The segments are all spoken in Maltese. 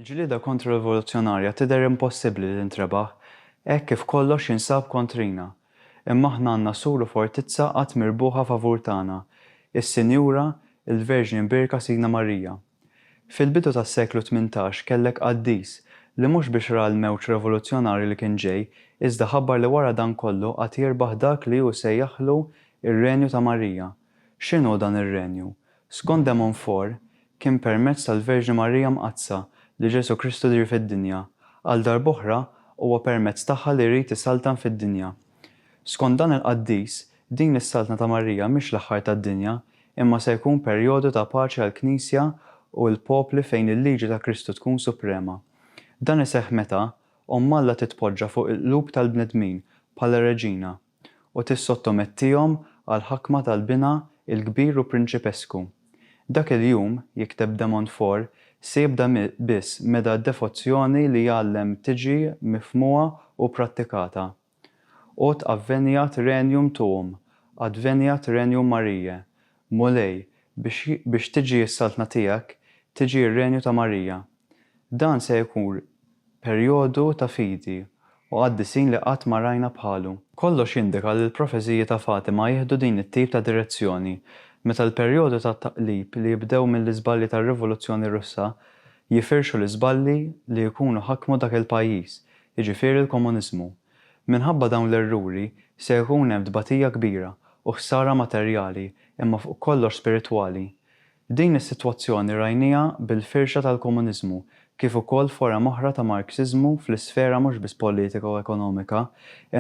Il-ġlieda kontra-rivoluzzjonarja tidher impossibbli li tintrebaħ hekk kif kollox jinsab kontrina. Imma aħna għandna sur u fortizza qatt mirbuħa favur tagħna, is-Sinjura, il-Verġni Mbierka Sidna Marija. Fil-bidu tas-seklu tmintax kellek qaddis li mhux biex ra l-mewġ revoluzzjonarju li kien ġej, iżda ħabbar li wara dan kollu għad jirbaħ dak li hu sejjaħlu r-Renju ta' Marija. X'inhu dan ir-Renju? Skont de Montfort, kien permezz tal-Verġni Marija Mqaddsa li Ġesù Kristu ġie fid-dinja. Għal darb'oħra, huwa permezz tagħha li jrid isaltan fid-dinja. Skont dan il-qaddis, Din is-Saltna ta' Marija mhix l-aħħar tad-dinja, imma se jkun perjodu ta' paċi għall-Knisja u l-popli fejn il-liġi ta' Kristu tkun suprema. Dan iseħħ meta Omm Alla titpoġġa fuq il-qlub tal-bnedmin bħala reġina u tissottomettihom għall-ħakma tal-Binha l-Kbir u Prinċipesku. Dak il-jum, jikteb de Montfort, se jibda biss meda d-devozzjoni li jgħallem tiġi mifhmuha u prattikata. Ut adveniat regnum tuum, adveniat regnum Mariae, Mulej, biex biex tiġi s-Saltna tiegħek, tiġi r-Renju ta' Marija. Dan se jkun perjodu ta' fidi u qaddisin li qatt ma rajna bħalu. Kollox jindika li l-profeziji ta' Fatima jieħdu din it-tip ta' direzzjoni, meta l-perjodu ta' taqlib li jibdew mill-iżbalji tar-Rivoluzzjoni Russa jifirxu l-iżbalji li jkunu ħakmu dak il-pajjiż, jiġifieri l-komuniżmu. Minħabba dawn l-erruri se jkun hemm tbatija kbira u ħsara materjali imma fuq kollox spiritwali. Din is-sitwazzjoni rajnieha bil-firxa tal-komuniżmu kif ukoll forom oħra ta' Marxiżmu fl-isfera mhux biss politika u ekonomika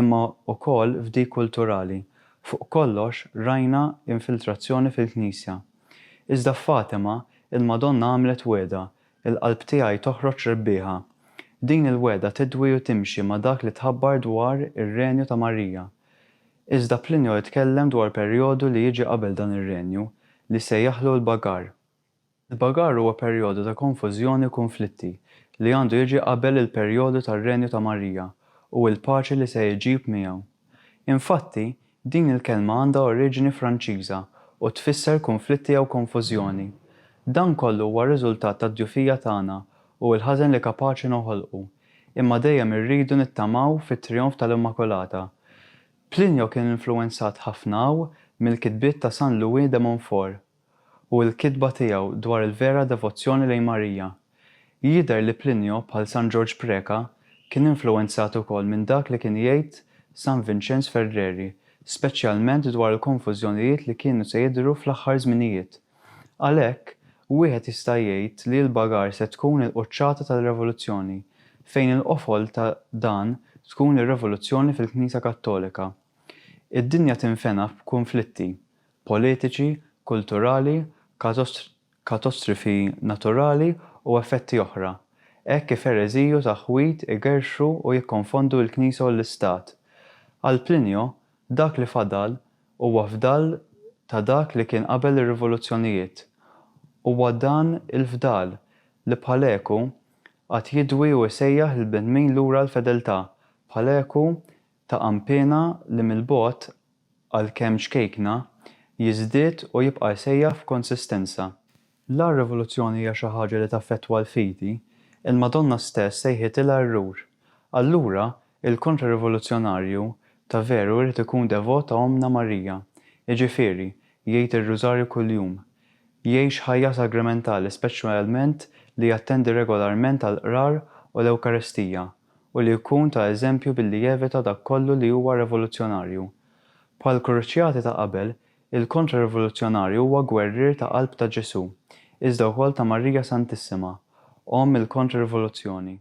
imma ukoll f'dik kulturali. Fuq kollox rajna infiltrazzjoni fil-Knisja. Iżda f'Fatima, il-Madonna għamlet wegħda Il-qalb tiegħi toħroġ rebbieħa. Din il-wegħda tidwi u timxi ma' dak li tħabbar dwar ir-Renju ta' Marija. Iżda Plinio jitkellem dwar perjodu li jiġi qabel dan ir-Renju, li sejjaħlu l-Bagar. Il-Bagar huwa perjodu ta' konfużjoni u kunflitti li għandu jiġi qabel il-perjodu tar-Renju ta' Marija u l-paċi li se jġib miegħu. Infatti, din il-kelma għandha oriġini Franċiża u tfisser kunflitti jew konfużjoni. Dan kollu huwa riżultat tad-djufija tagħna u l-ħażen li kapaċi noħolqu. Imma dejjem irridu nittamaw fit-trijonf tal-Immakulata. Plinio kien influwenzat ħafna hawn mill-kitbiet ta' San Louis de Montfort. u l-kitba tiegħu dwar il-vera devozzjoni lejn Marija. Jidher li Plinio, bħal San Ġorġ Preca, kien influwenzat ukoll minn dak li kien jgħid San Vinċenz Ferreri, speċjalment dwar il-konfużjonijiet li kienu se jidhru fl-aħħar żminijiet. Għalhekk, wieħed jista' jgħid li l-bagar se tkun il-quċċata tal-Revoluzzjoni, fejn il-qofol ta' dan tkun ir-revoluzzjoni fil-Knisja Kattolika. Id-dinja tinfena f'kunflitti, politiċi, kulturali, katostrifi naturali u effetti oħra, hekk kif ereżiji u taħwid igerrxu u jikkonfondu l-Knisja u l-Istat. Għal Plinio, dak li fadal huwa fdal ta' dak li kien qabel ir-rivoluzzjonijiet. Huwa dan il-fdal li bħal eku għad jidwi u jsejjaħ lill-bnedmin lura għall-fedeltà, bħal eku ta' qanpiena li mill-bogħod għalkemm ċkejkna, jiżdied u jibqa' jsejjaħ f'konsistenza. La r-rivoluzzjoni hija xi ħaġa li taffettwa l-fidi, il-Madonna stess sejħitilha r-Rur. Allura, il-kontra-rivoluzzjonarju ta' veru jrid ikun devot ta' Ommna Marija, jiġifieri, jgħid ir-Rużarju kuljum, jgħix ħajja sagramentali speċjalment li jattendi regolarment għall-Qrar u l-Ewkaristija, u li jkun ta' eżempju billi jevita dak kollu li huwa revoluzzjonarju. Bħall-kruċjati ta' qabel, il-kontra-rivoluzzjonarju huwa gwerrier ta' qalb ta' Ġesù, iżda wkoll ta' Marija Santissima, Omm il-Kontra-Rivoluzzjoni.